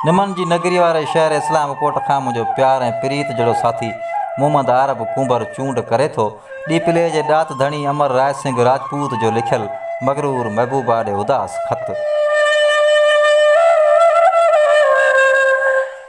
نمن جي نگريء واري شهر اسلام ڪوٽ کان منهنجو پيار ۽ پريت جڙو ساٿي محمد عارب ڪنڀر چونڊ ڪري ٿو. ڏيپلي جي ڏات ڌڻي امر راء سنگهه راجپوت جو لکيل مغرور محبوبا ڏي اداس خط.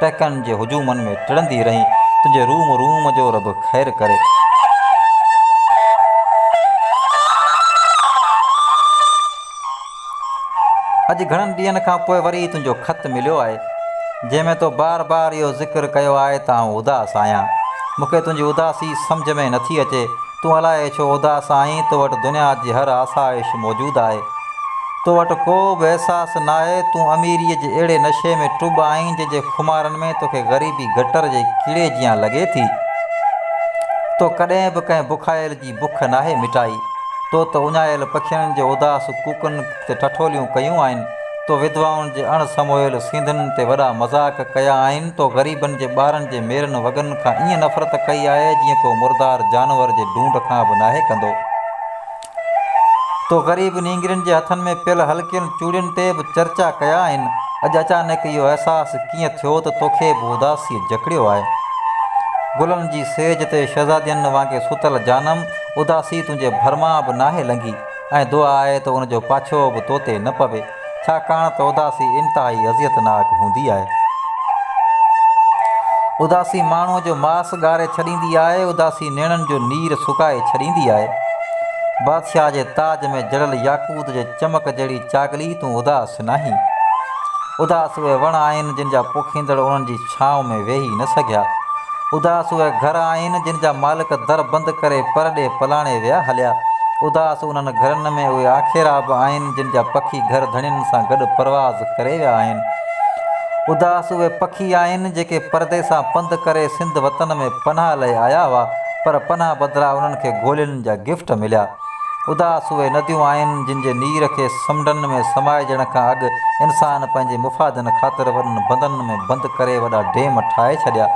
ٽهڪن جي هجومن ۾ ٽڙندي رهين، تنهنجي روم روم جو رب خير ڪري. اڄ گهڻن ڏينهن کان پوء وري تنهنجو خط مليو آهي، جنهن ۾ تو بار بار اهو ذڪر ڪيو آهي ته آئون اداس آهيان. مون کي تنهنجي اداسي سمجهه ۾ نٿي اچي. تون الائي ڇو اداس آهين، تو وٽ دنيا جي هر آسائش موجود آهي. تو وٽ ڪو به احساس ناهي، تون اميريء جي اهڙي نشي ۾ ٽٻ آهين، جنهن جي خمارن ۾ توکي غريبي گٽر جي ڪيڙي جيان لڳي ٿي. تو ڪڏهن به ڪنهن بکايل جي بک ناهي مٽائي. تو ته اڃايل پکين جو اداس ڪوڪن. تي ٺٺوليون ڪيون آهن، تو وڌوائن جي اڻ سمويل سينڌن تي وڏا مذاق ڪيا آهن، تو غريبن جي ٻارن جي ميرن وڳن کان ائين نفرت ڪئي آهي جيئن ڪو مردار جانور جي ڍونڍ کان به ناهي ڪندو. تو غريب نينگرين جي هٿن ۾ پيل هلڪين چوڙين تي به چرچا ڪيا آهن. اڄ اچانڪ اهو احساس ڪيئن ٿيو ته توکي به اداسيء جڪڙيو آهي. گلن جي سيج تي شهزادين وانگي ستل جانم، اداسي تنهنجي ڀرمان به ناهي لنگهي. ۽ دعا آهي ته ان جو پاڇو به تو تي نه پوي، ڇاڪاڻ ته اداسي انتهائي اذيت ناڪ هوندي آهي. اداسي ماڻهوء جو ماس ڳاري ڇڏيندي آهي، اداسي نيڻن جو نير سڪائي ڇڏيندي آهي. بادشاهه جي تاج ۾ جڙيل ياقوت جي چمڪ جهڙي چاڳلي، تون اداس. ڪجهه ناهي. اداس اهي وڻ آهن جن جا پوکيندڙ انهن جي ڇانو ۾ ويهي نه سگهيا. اداس اهي گهر آهن جن جا مالڪ در بند ڪري پر ڏي پلاڻي ويا هليا. اداس انهن گهرن ۾ اهي آکيرا به آهن جن جا پکي گهر ڌڻين سان گڏ پرواز ڪري ويا آهن. اداس اهي پکي آهن جيڪي پردي سان پنڌ ڪري سنڌ وطن ۾ پناهه لئي آيا هئا پر پناهه بدران انهن کي گولين جا گفٽ مليا. اداس اهي نديون آهن جن جي نير کي سمنڊن ۾ سمائجڻ کان اڳ انسان پنهنجي مفادن خاطر وڏن بندن ۾ بند ڪري وڏا ڊيم ٺاهي ڇڏيا.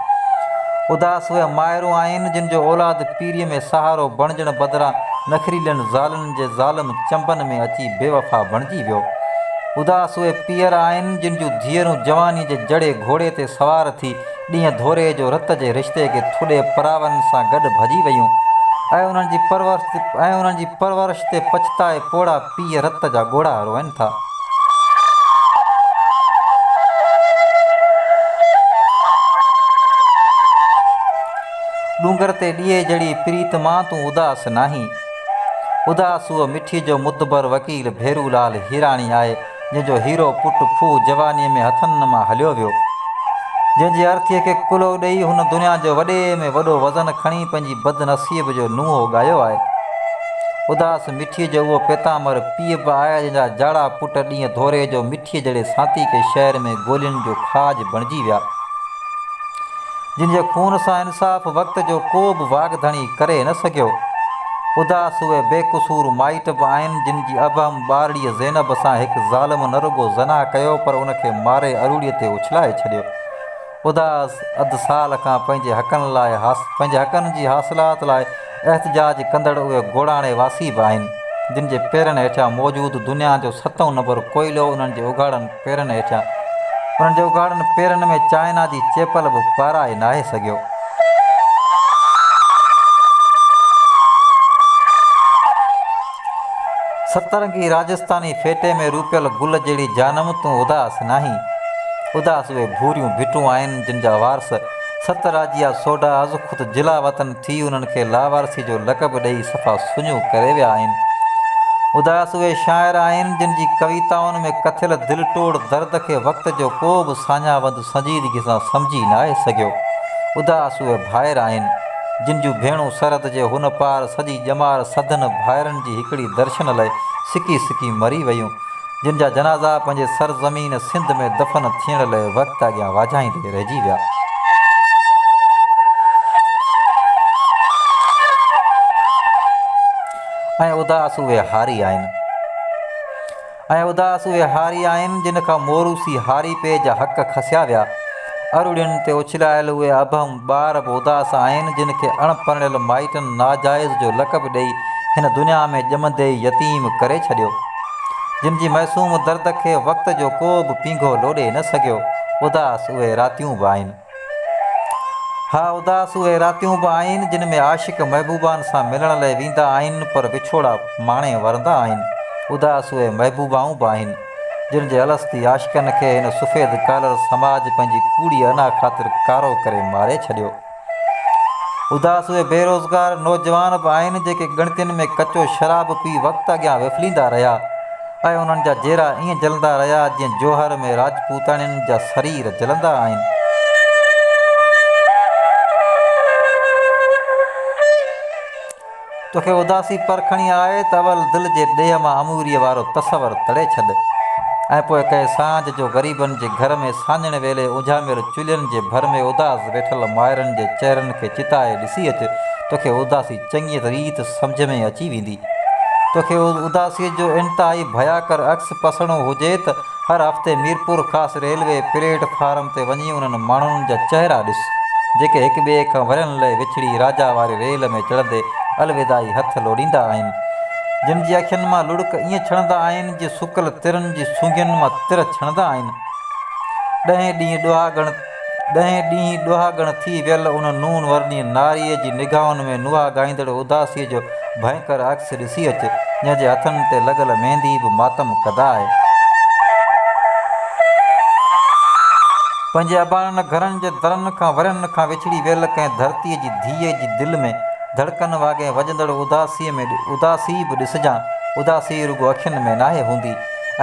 اداس اهي مائرون آهن جن جو اولاد پيريء ۾ سهارو بڻجڻ بدران نخريلين زالن جي ظالم چنبن ۾ اچي بي وفا بڻجي ويو. اداس اهي پيئر آهن جن جون ڌيئرون جوانيء جي جڙي گهوڙي تي سوار ٿي ڏينهن ڌوري جو رت جي رشتي کي ٿڏي پراون سان گڏ ڀڄي ويون ۽ انهن جي پرورش ۽ انهن جي پرورش تي پڇتائي پوڙها پيء رت جا ڳوڙها روئن ٿا. ڏونگر تي ڏيئي جڙي پريت مان تون اداس ناهين. اداس هوء مٺي جو مدبر وڪيل ڀيرو لال هيراڻي آهي. جنهن جو هيرو پٽ کوهه جوانيء ۾ هٿن مان هليو ويو، جنهن جي ارٿيء کي ڪلهو ڏيئي هن دنيا جو وڏي ۾ وڏو وزن کڻي پنهنجي بدنصيب جو نونهو ڳايو آهي. اداس مٺيء جو اهو پيتامر پيء به آهي جنهن جا جاڙا پٽ ڏينهن ڌوري جو مٺيء جهڙي سانتيڪي شهر ۾ گولين جو کاڄ بڻجي ويا، جن جي خون سان انصاف وقت جو ڪو به واڳ ڌڻي ڪري نه سگهيو. اداس اهي بي قصور مائٽ به آهن جن جي ابهم ٻارڙيء زينب سان هڪ ظالم نه رڳو زنا ڪيو پر ان کي ماري اروڙي تي اڇلائي ڇڏيو. اداس اڌ سال کان پنهنجي حقن لاء پنهنجي حقن جي حاصلات لاء احتجاج ڪندڙ اهي گوڙاڻي واسي به آهن جن جي پيرن هيٺيان موجود دنيا جو ستون نمبر ڪوئلو انهن جي اگهاڙن پيرن هيٺيان انهن جي اگهاڙن پيرن ۾ چائنا جي چيپل به پارائي ناهي سگهيو. سترنگي راجستاني ڦيٽي ۾ روپيل گل جهڙي جانم تون اداس ناهين. اداس اهي ڀوريون ڀٽون آهن جن جا وارث ست راجيا سوڍا از خود جلا وطن ٿي انهن کي لاوارثي جو لقب ڏئي صفا سڃو ڪري ويا آهن. اداس اهي شاعر آهن جن جي ڪويتائن ۾ ڪٿيل دل ٽوڙ درد کي وقت جو ڪو به ساڃاهه وند سنجيدگي سان سمجهي ناهي سگهيو. اداس اهي ڀائر آهن، جن جون ڀيڻون سرحد جي هن پار سڄي ڄمار سڌن ڀائرن جي هڪڙي درشن لئه سڪي سڪي مري ويون، جن جا جنازا پنهنجي سر زمين سنڌ ۾ دفن ٿيڻ لئه وقت اڳيان واجهائيندي رهجي ويا. ۽ اداس اهي هاري آهن. اي اداس اهي هاري آهن، جن کان موروثي هاري پي جا حق کسيا ويا. ارڙين تي اڇلايل اهي ابهم ٻار به اداس آهن، جن کي اڻ پرڻيل مائٽن ناجائز جو لقب ڏئي هن دنيا ۾ ڄمندي ئي يتيم ڪري ڇڏيو. جن جي معصوم درد کي وقت جو ڪو به پينگهو لوڏي نه سگهيو. اداس اهي راتيون به آهن. ها اداس اهي راتيون به آهن جن ۾ عاشق محبوبائن سان ملڻ لئه ويندا آهن پر وڇوڙا ماڻي ورندا آهن. اداس اهي محبوبائون به آهن جن جي الستي عاشقن کي هن سفيد ڪالر سماج پنهنجي ڪوڙي انا خاطر ڪارو ڪري ماري ڇڏيو. اداس اهي بيروزگار نوجوان به آهن جيڪي ڳڻتين ۾ ڪچو شراب پي وقت اڳيان وڦليندا رهيا. ۽ انهن جا جيرا ائين جلندا رهيا جيئن جوهر ۾ راجپوتاڻين جا سرير جلندا آهن. توکي اداسي پر کڻي آهي ته اول دل جي ڏيهه مان اموريء وارو تصور تڙي ڇڏ ۽ پوء ڪهي سانجهه جو غريبن جي گهر ۾ سانڄڻ ويلي اجهاميل چلهين جي ڀر ۾ اداس ويٺل مائرن جي چهرن کي چتائي ڏسي اچ توکي اداسي چڱيء ريت سمجهه ۾ اچي ويندي. توکي اداسيء جو انتهائي ڀياڪر عڪس پسڻو هجي ته هر هفتي Mirpur Khas railway platform تي وڃي انهن ماڻهن جا چهرا ڏس، جيڪي هڪ ٻئي کان ورهين لئه وڇڙي راجا واري ريل ۾ چڙهندي الوداعي هٿ لوڏيندا آهن، جن جي اکين مان لڙڪ ائين ڇڻندا آهن جيئن سڪل ترن جي سونگين مان تر ڇڻندا آهن. ڏهين ڏينهن ڏهاڳڻ. ڏهين ڏينهن ڏهاڳڻ ٿي ويل ان نون ورني ناريء جي نگاهن ۾ نهاڳائيندڙ اداسيء جو ڀينڪر عڪس ڏسي اچ، جنهن جي هٿن تي لڳل ميندي به ماتم ڪده آهي. پنهنجي اباڻن گهرن جي درن کان ورهين کان وڇڙي ويل ڪنهن ڌرتيء جي ڌيء جي دل ۾ ڌڙڪن واڳين وڄندڙ اداسيء ۾ اداسي به ڏسجان. اداسي رڳو اکين ۾ ناهي هوندي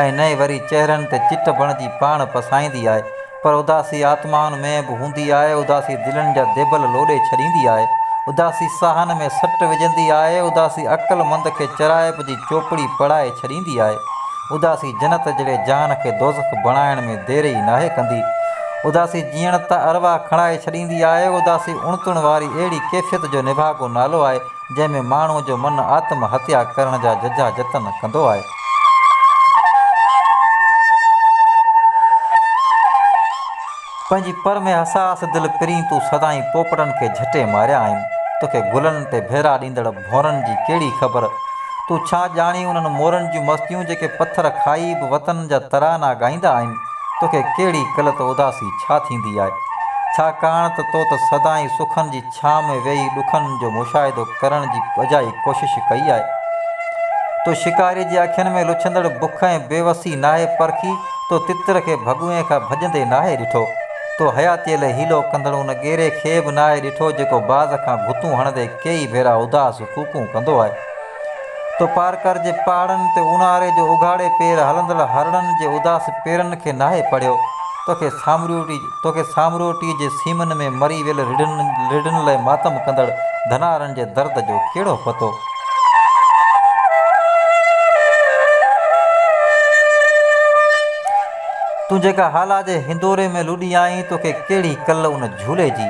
۽ نه ئي وري چهرن تي چٽ بڻجي پاڻ پسائيندي آهي. پر اداسي آتمائن ۾ به هوندي آهي، اداسي دلين جا ديبل لوڏي ڇڏيندي آهي، اداسي ساهن ۾ سٽ وجهندي آهي، اداسي عقل مند کي چرائپ جي چوپڙي پڙهائي ڇڏيندي آهي، اداسي جنت جهڙي جهان کي دوزخ بڻائڻ ۾ دير ئي ناهي ڪندي، اداسي جيئڻ تان ارواح کڻائي ڇڏيندي آهي، اداسي اڻتون واري اهڙي ڪيفيت جو نڀاڳو نالو آهي، جنهن ۾ ماڻهوء جو من آتم هتيا ڪرڻ جا ججها جتن ڪندو آهي. پنهنجي پر ۾ حساس دل پرين تون سدائين پوپٽن کي جهٽي ماريا آهن. توکي گلن تي ڀيرا ڏيندڙ ڀونرن جي ڪهڙي خبر؟ تون ڇا ڄاڻين انهن مورن جون مستيون جيڪي پٿر کائي به وطن جا ترانا ڳائيندا آهن. توکي ڪهڙي قلت اداسي ڇا ٿيندي آهي؟ ڇا ڪاڻ ته تو ته سدائين سخن جي ڇانء ۾ ويهي ڏکن جو مشاهدو ڪرڻ جي اجائي ڪوشش ڪئي آهي. تو شڪاري جي اکين ۾ لڇندڙ بک ۽ بيوسي ناهي پرکي، تو تتر کي ڀڳوئي کان ڀڄندي ناهي ڏٺو، تو حياتيء لئه حيلو ڪندڙ ان ڳيري کي به ناهي ڏٺو، جيڪو باز کان گهتون هڻندي ڪيئي ڀيرا اداس ڪوڪون ڪندو آهي. تو پارڪر جي پهاڙن تي اونهاري جو اگهاڙي پير هلندڙ هرڻن جي اداس پيرن کي ناهي پڙهيو، توکي سامروٽي توکي سامروٽي جي سيمن ۾ مري ويل رڍن رڍن لئه ماتم ڪندڙ ڌنارن جي درد جو ڪهڙو پتو؟ تون جيڪا هالا جي هندوري ۾ لڏي آئين، توکي ڪهڙي ڪل ان جهولي جي،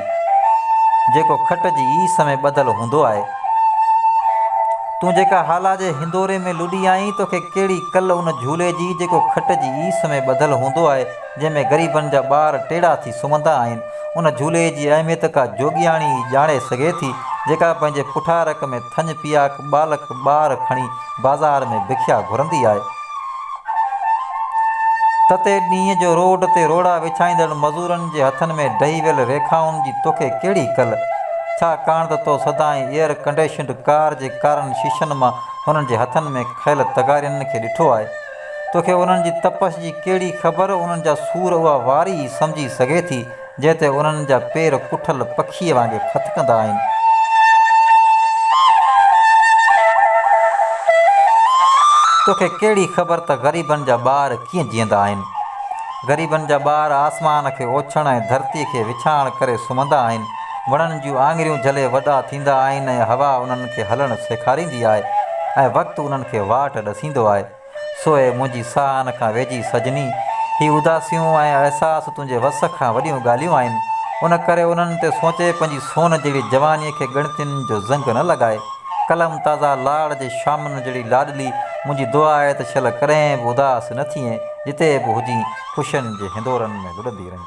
جيڪو کٽ جي ايس ۾ ٻڌل هوندو آهي. تون جيڪا هالا جي هندوري ۾ لڏي آئين، توکي ڪهڙي ڪل ان جهولي جي، جيڪو کٽ جي ايس ۾ ٻڌل هوندو آهي، جنهن ۾ غريبن جا ٻار ٽيڙا ٿي سمهندا آهن. ان جهولي جي اهميت ڪا جوڳياڻي ئي ڄاڻي سگهي ٿي، جيڪا پنهنجي پٺارڪ ۾ ٿڃ پياڪ ٻالڪ ٻار کڻي بازار ۾ بکيا گهرندي آهي. تتي ڏينهن جو روڊ تي روڙا وڇائيندڙ مزورن جي هٿن ۾ ڊهي ويل ريکائن جي توکي ڪهڙي ڪل، ڇاڪاڻ ته تو سدائين ايئر ڪنڊيشنڊ ڪار جي ڪارن شيشن مان انهن جي هٿن ۾ کيل تغارين کي ڏٺو آهي. توکي انهن جي تپش جي ڪهڙي خبر، انهن جا سور اها واري ئي سمجهي سگهي ٿي، جنهن تي انهن جا پير ڪٺل پکيء وانگي ڦٿڪندا آهن. توکي ڪهڙي خبر ته غريبن جا ٻار ڪيئن جيئندا آهن. غريبن جا ٻار آسمان کي اوڇڻ ۽ ڌرتيء کي وڇاڻ ڪري سمهندا آهن. وڻن جون آڱريون جهلي وڏا ٿيندا آهن ۽ هوا انهن کي هلڻ سيکاريندي آهي ۽ وقت انهن کي واٽ ڏسيندو آهي. سوء منهنجي ساهن کان ويجهي سجني، هي اداسيون ۽ احساس تنهنجي وس کان وڏيون ڳالهيون آهن، ان ڪري انهن تي سوچي پنهنجي سون جهڙي جوانيء کي ڳڻتين جو زنگ نه لڳاء. ڪلم تازا لاڙ جي شامن جهڙي لاڏلي، منهنجي دعا آهي ته شل ڪڏهن به اداس نه ٿيين، جتي به هجين خوشين جي هندورن ۾ لڏندي رهين.